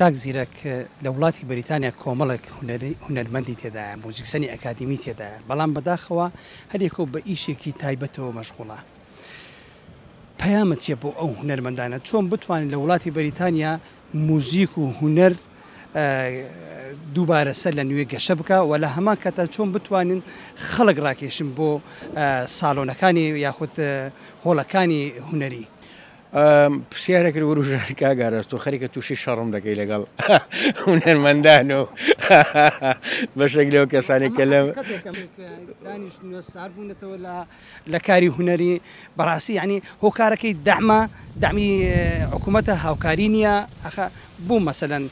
کاک زیرەک لە وڵاتی بەریتانیا کۆمەڵێک هونەرمەندی تێدایە موزیکسەنی ئەکادیمی تێدایە بەڵام بەداخەوە هەریەکەو بە ئیشێکی تایبەتەوە مەشغوڵە پەیامت چیە بۆ ئەو هونەرمەندانە چۆن بتوانین لە وڵاتی بەریتانیا موزیک و هونەر دووبارە سەر لە نوێ گەشە بکە و لە هەمان کەتە چۆن بتوانین خەڵک ڕاکێشن بۆ ساڵۆنەکانی یاخود هۆڵەکانی هوەری پرسیارێک لە وروژان کاک ئاراس تۆ خەریکە تووشی شەڕم دەکەی لەگەڵ هونەرمەندان و بەشێک لەو کەسانێک کە لەم ساربوونەتەوە لە کاری هونەری بەڕاستی ینی هۆکارەکەی دەعمە دەمی حکوومەتە هاوکاری نییە ئەخ بوو مەسەەن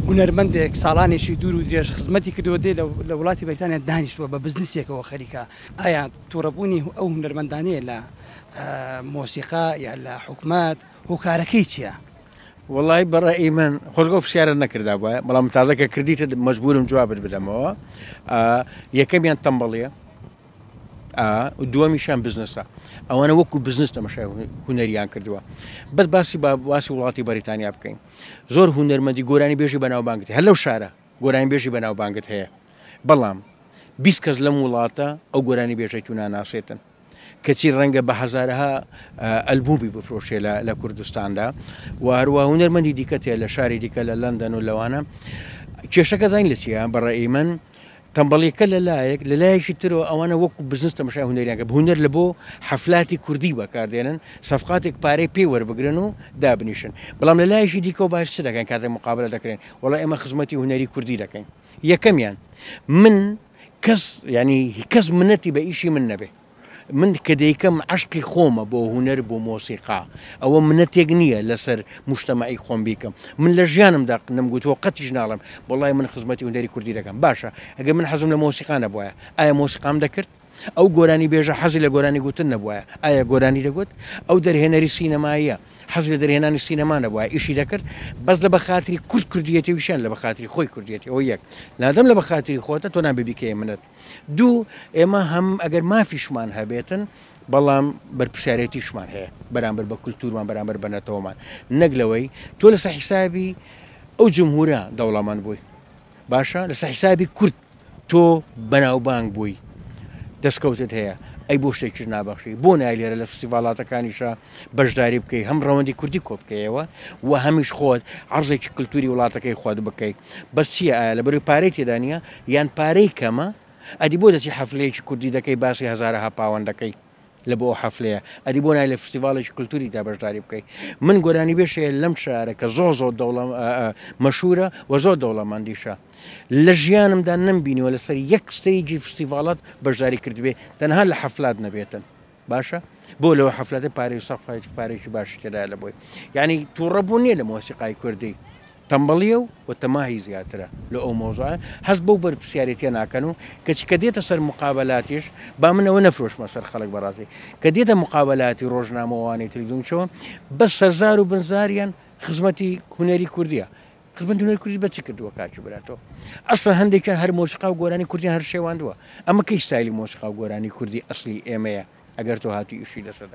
هونەرمەندێک ساڵانێکی دوور و درێژ خزمەتی کردووە دێ لە وڵاتی بەریتانیا دانیشتووە بە بزنسێکەوە خەریکە ئایا توڕەبوونی ئەو هونەرمەندانەیە لە مۆسیقا یا لە حکومەت هۆکارەکەی چیە؟ وەڵای بەڕێی من خۆزگە و پرسیارت نەکردا بە بەڵام تازەکە کردیتە مەجبورم جوابت بدەمەوە یەکەمیان تەمبەڵیە دووەمیشان بزنسە ئەوانە وەکو بزنس تەمەشای هوەریان کردووە بەس باسی باسی وڵاتی بەریتانیا بکەین زۆر هوەرمەندی گۆرانی بێژی بەناوبانگتی هەر لەو شارە گۆرانیبێژی بەناوبانگت هەیە بەڵام بیست کەس لەم وڵاتە ئەو گۆرانیبێژەی تو ناناسێتن کەچی ڕەنگە بە هەزارەها ئەلبومی بفرۆشێ لە کوردستاندا و هەروە هونەرمەندی دیکە تێ لە شاری دیکە لە لەندەن و لەوانە کێشەکە زین لە چیە بەڕێی من تەمبەڵیەکە لە لایەک لە لایەکی ترەوە ئەوانە وەکو بزنس تەمەشای هونەریانکە هونەر لە بۆ حەفلاتی کوردی بەکاردێنن سەفقاتێک پارەی پێی وەربگرن و دابنیشن بەڵام لە لایەکی دیکەەوە باش چ دەکەن کاتێک مقابلە دەکرێن وەڵا ئێمە خزمەتی هونەری کوردی دەکەین یەکەمیان من کەس ینی کەس منەتی بە ئیشی من نەبێ من کە دەیکەم عشقی خۆمە بۆ هوەر بۆ مۆسیقا ئەوە منەتێک نییە لەسەر مشتمەعی خۆم بیکەم من لە ژیانم دەق نم گوتوە قەتیش ناڵم بەڵای من خزمەتی هوەری کوردی دەکەم باشە ئەگە من حەزم لە مۆسیقانە بواە ئایا مۆسیقام دەکرد ئەو گۆرانیبێژە حەزی لە گۆرانی گوتن نەبوایە ئایا گۆرانی دەگوت؟ ئەو دەرهێنەری سینەماییە حەزی لە دەرهێنانی سینەما نەبوایە ئیشی دەکرد؟ بەس لە بەخاتری کورد کردویەتی ویشیان لە بەخاتری خۆی کردویەتی ئەوە یەک لادەم لە بەخاتری خۆتە تۆ نابێ بیکەیە منەت دوو ئێمە هەم ئەگەر مافیشمان هەبێتن بەڵام بەرپسیارەتیشمان هەیە بەرامبەر بە کولتورمان بەرامبەر بە نەتەوەمان نەک لەوەی تۆ لەسە حیسابی ئەو جمهورە دەوڵەمەند بووی باشە لەسە حیسابی کورد تۆ بەناوبانگ بووی دەستکەوتت هەیە ئەی بۆ شتێکیش نابەخشی بۆ نای لێرە لە فستیڤالاتەکانیشە بەشداری بکەی هەم ڕەوەندی کوردی کۆ بکەیەوە و هەمیش خۆت عرضێکی کللتوری وڵاتەکەی خۆت بکەی بەس چیە ئایا لە بەروی پارەی تێدانە یان پارەی کەمە ئەدی بۆ دەچی حەفلەیەکی کوردی دەکەی باسی هزارەها پاوەندەکەی لە بۆ ئەو حەفلەیە ئەدی بۆ نای لە فستیڤاڵێکی کللتوریدا بەشداری بکەیت من گۆرانی بێش هەیە لەم شارە کە زۆ زۆ دەوڵە مەشورە و زۆر دەوڵەمەندیشە لە ژیانمدا نمبینیوە لەسەر یەک ستەیجی فستیڤالات بەشداری کردبێ تەنها لە حەفلات نەبێتن باشە بۆ لەوە حەفلەتە پارێ سەفای پارێکی باشی تێدا لە بۆی یعنی تووڕەبوو نییە لە مۆسیقای کوردی تەمبەڵیە و و تەماهی زیاترە لۆ ئەو مەوزوعە هەست بەو بەرپسیارێتیە ناکەن و کەچی کە دێتە سەر مقابەلاتیش با من ئەوە نەفرۆشمە سەر خەڵک بەڕاستی کە دێتە مقابەلاتی ڕۆژنامە وانەی تلویزیۆن چۆ بەس سەرزار و بنزاریان خزمەتی هونەری کوردیە خزمەتی هونەری کوردی بە چی کردووە کاکی برا تۆ ئەسڵەن هەندێکیان هەر مۆسیقا و گۆرانی کوردیان هەر شێواندووە ئەمە کەی ستایلی مۆسیقا و گۆرانی کوردی ئەسڵی ئێمەیە ئەگەر تۆ هاتووی ئیشی لەسەر دەکەی.